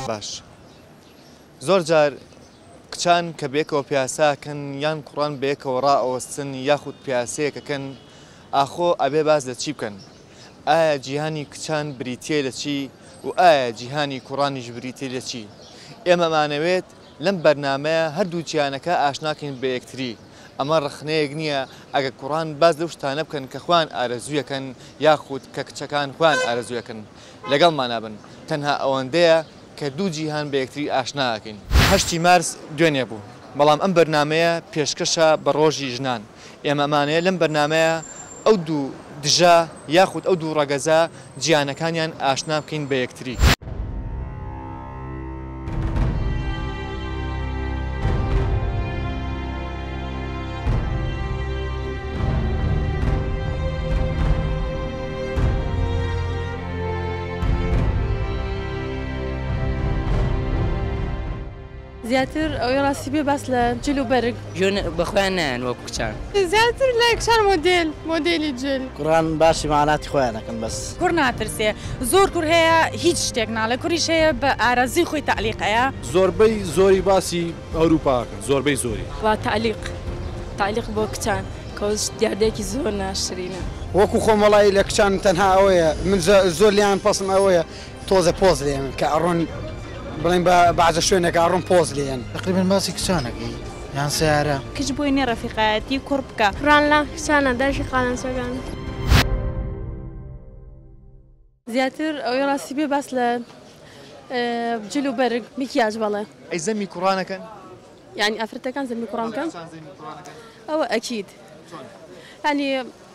باش زۆر جار کچان کە بێکەوە پیاساکەن یان کوڕان بێکەوە ڕائەوەستن یاخود پیاسەیەکەکەن ئاخۆ ئەبێ باز لە چی بکەن ئایا جیهانی کچان بریتە لە چی و ئایا جیهانی کوڕانیش بریتی لە چی ئێمەمانەوێت لەم بەرنامەیە هەردوو جیهانەکە ئاشناکەین بە یەکتری، ئەمە ڕەخنەیەک نییە ئەگەر کوڕان باس لەو شتانە بکەن کە خۆیان ئارەزوویەکەن یاخود کە کچەکان خۆیان ئارەزوویەکەن لەگەڵمانا بن، تەنها ئەوەندەیە کە دوو جیهان بە یەکتری ئاشناکەین. هەشتی مارس دوێنێ بوو، بەڵام ئەم بەرنامەیە پێشکەشە بە ڕۆژی ژنان. ئێمە ئەمانەیە لەم بەرنامەیە ئەو دوو دژە یاخود ئەو دوو ڕەگەزە جیانەکانیان ئاشنا بکەین بە یەکتری. زیاتر ئەوەی ڕاستی بێ باس لە جل و بەرگ. جون بە خۆیان نایەن وەک کچان. زیاتر لە کچان مۆدێل مۆدێلی جل. کوڕان باشی مالاتی خۆیان ئەکەن بەس. کوڕ ناترسێ زۆر کوڕ هەیە هیچ شتێک ناڵێ کوڕیش هەیە بە ئارەزوی خۆی تەعلیق ئەیا. زۆربەی زۆری باسی ئەوروپا ئەکەن زۆربەی زۆری. وا تەعلیق تەعلیق بۆ کچان کەوچ دیاردەیەکی زۆر ناشرینە. وەکو خۆم وەڵایی لە کچان تەنها ئەوەیە من زۆر لێیان پەسم ئەوەیە. تۆزێ پۆز لێن کە ئەڕۆن بڵێن بە بەعزە شوێنێکە ئەڕۆن پۆز لێن. تەقریبەن باسی کچانەکەی یان سەیارە. کچ بۆی نیە ڕەفیقایەتی کوڕ بکا. ڕان لە کچانە دایکی قالەنچەکان. زیاتر ئەوەی ڕاستی بێ باس لە جل و بەرگ میکیاج بەڵێ. ئەی زەمی کوڕان ئەکەن؟ یانی ئافرەتەکان زەمی کوڕان بکەن؟ ئەوە ئەکید یانی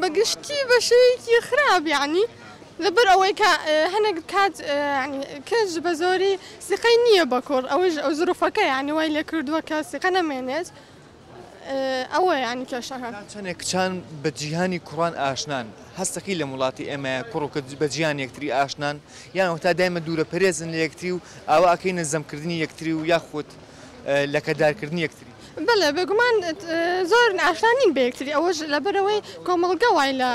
بە گشتی بە شێوەیەکی خراپ یانی لەبەر ئەوەی کە هەنێک کات یانی کەس بە زۆری سیقەی نییە بە کوڕ ئەوەش ئەو زروفەکە یانی وای لێ کردووە کە سیقە نەمێنێت ئەوە یانی کێشەکە. چەنێک کچان بە جیهانی کوڕان ئاشنان هەستەکەی لەم وڵاتی ئێمەیە کوڕ و کچ بە جیهانی یەکتری ئاشنان یان هەتا دایمە دوورە پەرێزن لە یەکتری و ئاوا ئەکەینە زەمکردنی یەکتری و یاخود لەکەدارکردنی یەکتری. بەڵێ بێگومان زۆر ئاشنا نین بە یەکتری ئەوەش لەبەرئەوەی کۆمەڵگە وای لە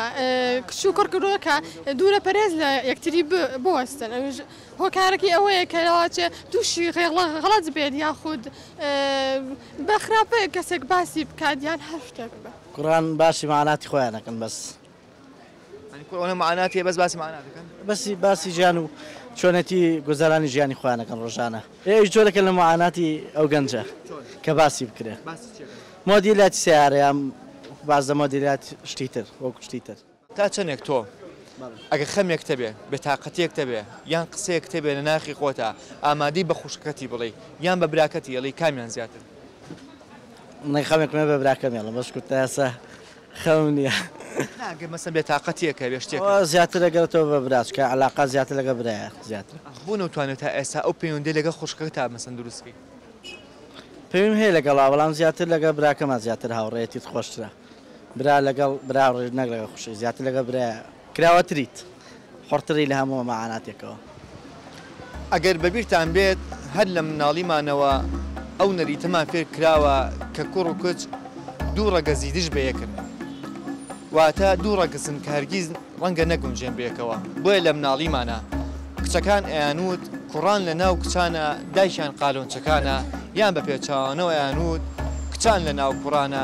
کچ و کوڕ کردووە کە دوورە پەرێز لە یەکتری بوەستن ئەویش هۆکارەکەی ئەوەیە کە لاوەکێ تووشی غێڵە غەڵەت بێت یاخود بە خراپە کەسێک باسی بکات یان هەر شتێک بە قورئان باسی مەعاناتی خۆیان ئەکەن بەس بەسی باسی ژیان و چۆنێتی گوزەرانی ژیانی خۆیان ئەکەن ڕۆژانە ئێش جۆرەکە لە معاناتی ئەو گەنجە کە باسی بکرێ مۆدی لاتی سیارەیان باس دە مۆدی لات شتی تر وەک شتی تر. تا چەنێک تۆ ئەگەر خەمێک تەبێ بێ تاقەتیەک تەبێ یان قسەیەک تەبێ لە ناخی خۆتا ئامادەی بە خوشکەکەتی بڵێی یان بە براکەتی ئەڵێی کامیان زیاتر؟ منی خەمێک مە بە براکەم یەڵم بەس کوتە یاسە خەوم نیە. نا گەر مەسەن بێ تاقەتیەکە بێ شتێکە. ئەوە زیاتر لەگەڵ تۆ بە برا چکە عەلاقە زیاتر لەگەڵ برایە زیاترە. ئەخ بۆ نەوتوانیوە تا ئێستا ئەو پەیوەندیە لەگەڵ خوشکەکەتا مەسەن دروست کەی. پەیوەندیم هەیە لەگەڵا بەڵام زیاتر لەگەڵ براکەما زیاتر هاوڕێیەتیت خۆشترە برا لەگەڵ برا نەک لەگەڵ خوشک زیاتر لەگەڵ برایە. کراوەتریت حۆڕتری لە هەموو مەعاناتێکەوە. ئەگەر بەبیرتان بێت هەر لە منداڵیمانەوە ئەو نەریتەمان فێر کراوە کە کوڕ و کچ دوو ڕەگەزی دژ بە یەکن واتە دوو ڕەگزن کە هەرگیز ڕەنگە نەگونجێن بەیەکەوە بۆیە لە مناڵیمانا کچەکان ئەیان ووت کوڕان لە ناو کچانە دایکیان قالۆنچەکانە یان بە پێچاوانەوە ئەیان ووت کچان لە ناو کوڕانە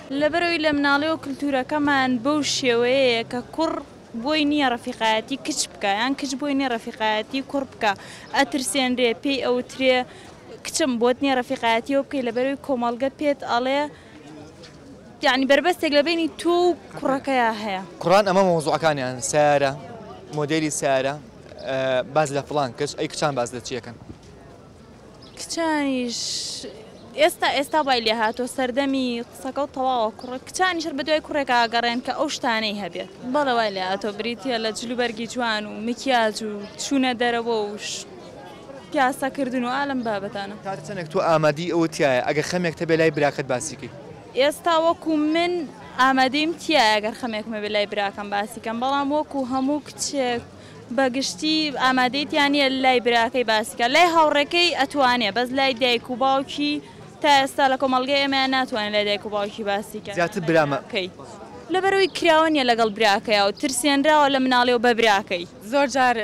لەبەرئەوەی لە مناڵی و کلتورەکەمان بەو شێوەیەیە کە کوڕ بۆی نییە ڕەفیقایەتی کچ بکا یان کچ بۆی نییە ڕەفیقایەتی کوڕ بکا ئەترسێنرێ پێی ئەوترێ کچم بۆت نییە ڕەفیقایەتی ئەو بکەی لەبەرەوەی کۆمەڵگە پێت ئەڵێ یانی بەربەستێک لە بینی تۆ و کوڕەکەیا هەیە. کوڕان ئەمە مەوزوعەکانیان سەیارە مۆدێلی سەیارە باس لە فڵان کچ ئەی کچان باس لە چی ئەکەن؟ کچانیش ئێستا ئێستا بای لێ هاتووە سەردەمی قسەکە و تەواوە کوڕە کچانیش هەر بە دوای کوڕێکا گەڕێن کە ئەو شتانەی هەبێت بەڵێ وای لێ هاتووە بریتیە لە جلوبەرگی جوان و مکیاج و چوونە دەرەوە و پیاسەکردن و ئالەم بابەتانە. کات چەنێک تۆ ئامادەی ئەوە تیایە ئەگەر خەمێکت هەبێ لای براکەت باسی کەی؟ ئێستا وەکو من ئامادەیم تیایە گەر خەمێکم هەبێ لای براکەم باسی کەم بەڵام وەکو هەموو کچێک. بەگشتی ئامادەی تیا نیە لای براکەی باسی کات لای هاوڕێکەی ئەتوانێ بەس لای دایک و باوکی تا ئێستا لە کۆمەڵگەی ئێمەیا ناتوانێ لای دایک و باوکی باسی کات زیاتر برا مە. کەی لەبەرەوەی کراوە نیە لەگەڵ براکەیا و ترسێنراوە لە مناڵی و بە براکەی. زۆر جار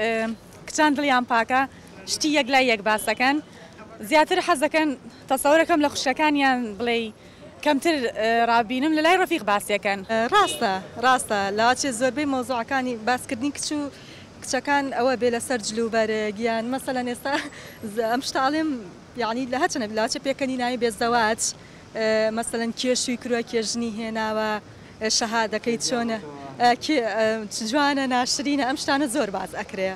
کچان دڵیان پاکە شتی یەک لای یەک باس دەکەن زیاتر حەز دەکەن تەسەورەکەم لە خوشکەکانیان بڵێی کەمتر ڕابینم لەلای ڕەفیق باسیەکەن. ڕاستە ڕاستە لاچێ زۆربەی مەوزوعەکانی باس کردنی کچ و کچەکان ئەوە بێ لەسەر جل و بەرگ یان مەسەلەن ئێستا ئەم شتە ئەڵێم یانی لە هەرچەنە لاچێ پێکەنیناوی بێ زەواج مەسەلەن کێ شووی کرا کێ ژنی هێناوە شەهادەکەی چۆنە کێ چ جوانە ناشرینە ئەم شتانە زۆر باس ئەکرێ.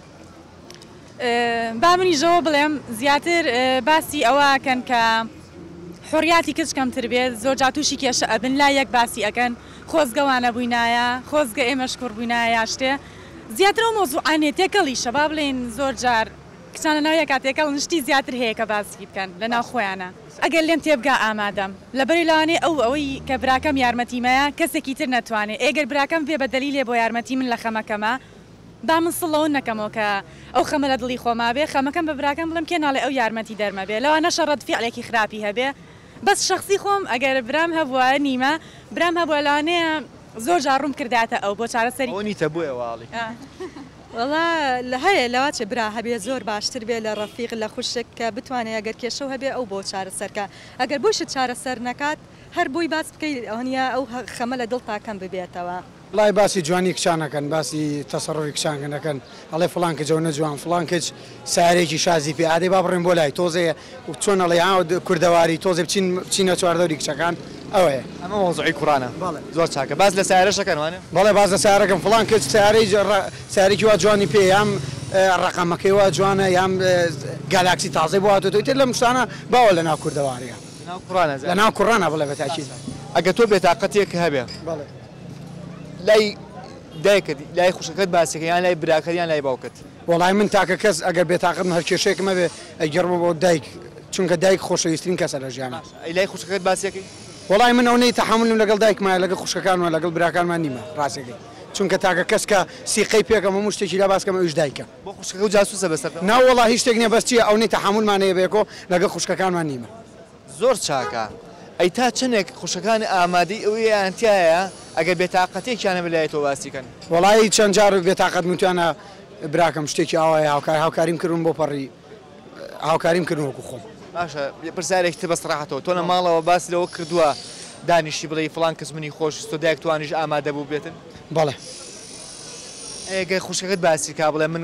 با منیش ئەوە بڵێم زیاتر باسی ئەوە ئەکەن کە حڕیاتی کچ کەمتر بێت زۆر جاتوشی کێشە ئەبن لا یەک باسی ئەەکەن خۆزگەوانە بووینایە خۆزگە ئێمەش کوڕ بووینایە شتێ زیاتر و مۆزوعانێ تێکەڵی شەبا بڵێن زۆر جار کچانە ناویە کاتێکەڵ نشتی زیاتر هەیە کە باسی بکەن لە ناو خۆیانە ئەگەر لێم تێبگا ئامادەم لەبەری لەوانەیە ئەو ئەوەی کە براکەم یارمەتیمەیە کەسێکی تر نەتوانێ ئێگەر براکەم بێ بە دەلیلێ بۆ یارمەتی من لە خەمەکەمە با من سڵەوە نەکەمەوە کە ئەو خەمە لە دڵی خۆما بێ خەمەکەم بە براکەم بڵێم کێ ناڵێ ئەو یارمەتیدەرمە بێ لەوانەشە ڕەد فیعلێکی خراپی هەبێ بەس شەخسی خۆم ئەگەر برام هەبوایە نیمە برام هەبوایە لەوانەیە زۆر جار ڕووم کردایەتە ئەو بۆ چارەسەری ئەونیتە بۆیە واڵی. وەڵا هەیە لەوا چێ برا هەبێ زۆر باشتر بێ لە ڕەفیق لە خوشک کە بتوانێ ئەگەر کێشەو هەبێ ئەو بۆ چارەسەر کا ئەگەر بۆیشت چارەسەر نەکات هەر بۆی باس بکەی ئەوە نیە ئەو خەمە لە دڵتا کەم ببێتەوە. وەڵاهی باسی جوانی کچان ئەکەن باسی تەسەڕوفی کچان ئەکەن ئەڵێ فڵان کچ ئەونە جوان فڵان کچ سارێکی شازی پێ ئادەی با بڕۆین بۆ لای تۆزێ چۆن ئەڵێی ها کوردەواری تۆزێ بچین بچینە چواردەوری کچەکان ئەوەیە. ئەمە مەوزوعی کوڕانە بەڵێ. زۆر چاکە باس لە سەیارەش ئەکەن وانە؟ بەڵێ باس لە سەیارە ئەکەن فڵان کچ سەیارەی سارێکی وا جوانی پێیە یان ڕەقەمەکەی وا جوانە یان گالاکسی تازەی بۆ هاتۆتەوە ئیتر لەم شتانە باوە لە ناو کوردەوارییە لە ناو کوڕانە بەڵێ بە تاکید. ئەگەر تۆ بێتاقەتێک هەبێ. بەڵێ. لای دایکت لای خوشکەکەت باسیکە یان لای براکەت یان لای باوکت. وەڵای من تاکە کەس ئەگەر بێتاقەتم هەر کێشەیەکم هەبێ ئەگێڕمە بۆ دایک چونکە دایک خۆشەویسترین کەسە لە ژیانا. باشە ئەی لای خوشکەکەت باسیەکەی. وەڵای من ئەونەی تەحەمولم لەگەڵ دایکمایە لەگەڵ خوشکەکانما لەگەڵ براکانما نیمە ڕاستەکەی چونکە تاکە کەس کە سیقەی پێکەم هەموو شتێکی لا باسکەم ئەویش دایکە. بۆ خوشکەکەو جاسوسە بەسەرتەوە. ناوەڵا هیچ شتێک نیە بەس چیە ئەونەی تەحەمولمان هەیە بەیەکۆ لەگەڵ خوشکەکانما نیمە. زۆر چاکە ئەی تا چەنێک خوشکەکان ئامادەی ئەوەیان تیایە ئەگەر بێتاقەتێکیانە بە لای تۆ باسی کەن. وەڵایی چەند جار بێتاقەتم وتویانە براکەم شتێکی ئاوایە هاوکار هاوکاریم کردوون بۆ پەڕی هاوکاریم کردوون وەکو خۆم. باشە پرسیارێکی تر بە سڕاحەتەوە تۆ لە ماڵەوە باست لەوە کردووە دانیشی بڵێی فڵان کەس منی خۆشویستوە دایک توانیش ئامادە بووبێتن؟ بەڵێ. ئەگەر خوشکەکەت باسی کا بڵێ من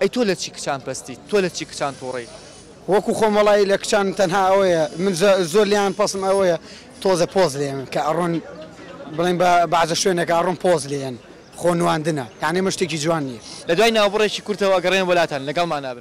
ئەی تۆ لە چی کچان پەستیت؟ تۆ لە چی کچان توڕەیت؟ وەکو خۆم وەڵایی لە کچان تەنها ئەوەیە من زۆر لێیان پەستم ئەوەیە تۆزێ پۆز لێن کە ئەڕۆن بڵێن بە بەعزە شوێنێکا ئەڕۆن پۆز لێن خۆ نواندنە یانی ئەمە شتێکی جوان نیە. لە دوای ناوبڕێکی کورتەوە ئەگەڕێم وەلاتان لەگەڵمان ئەبن.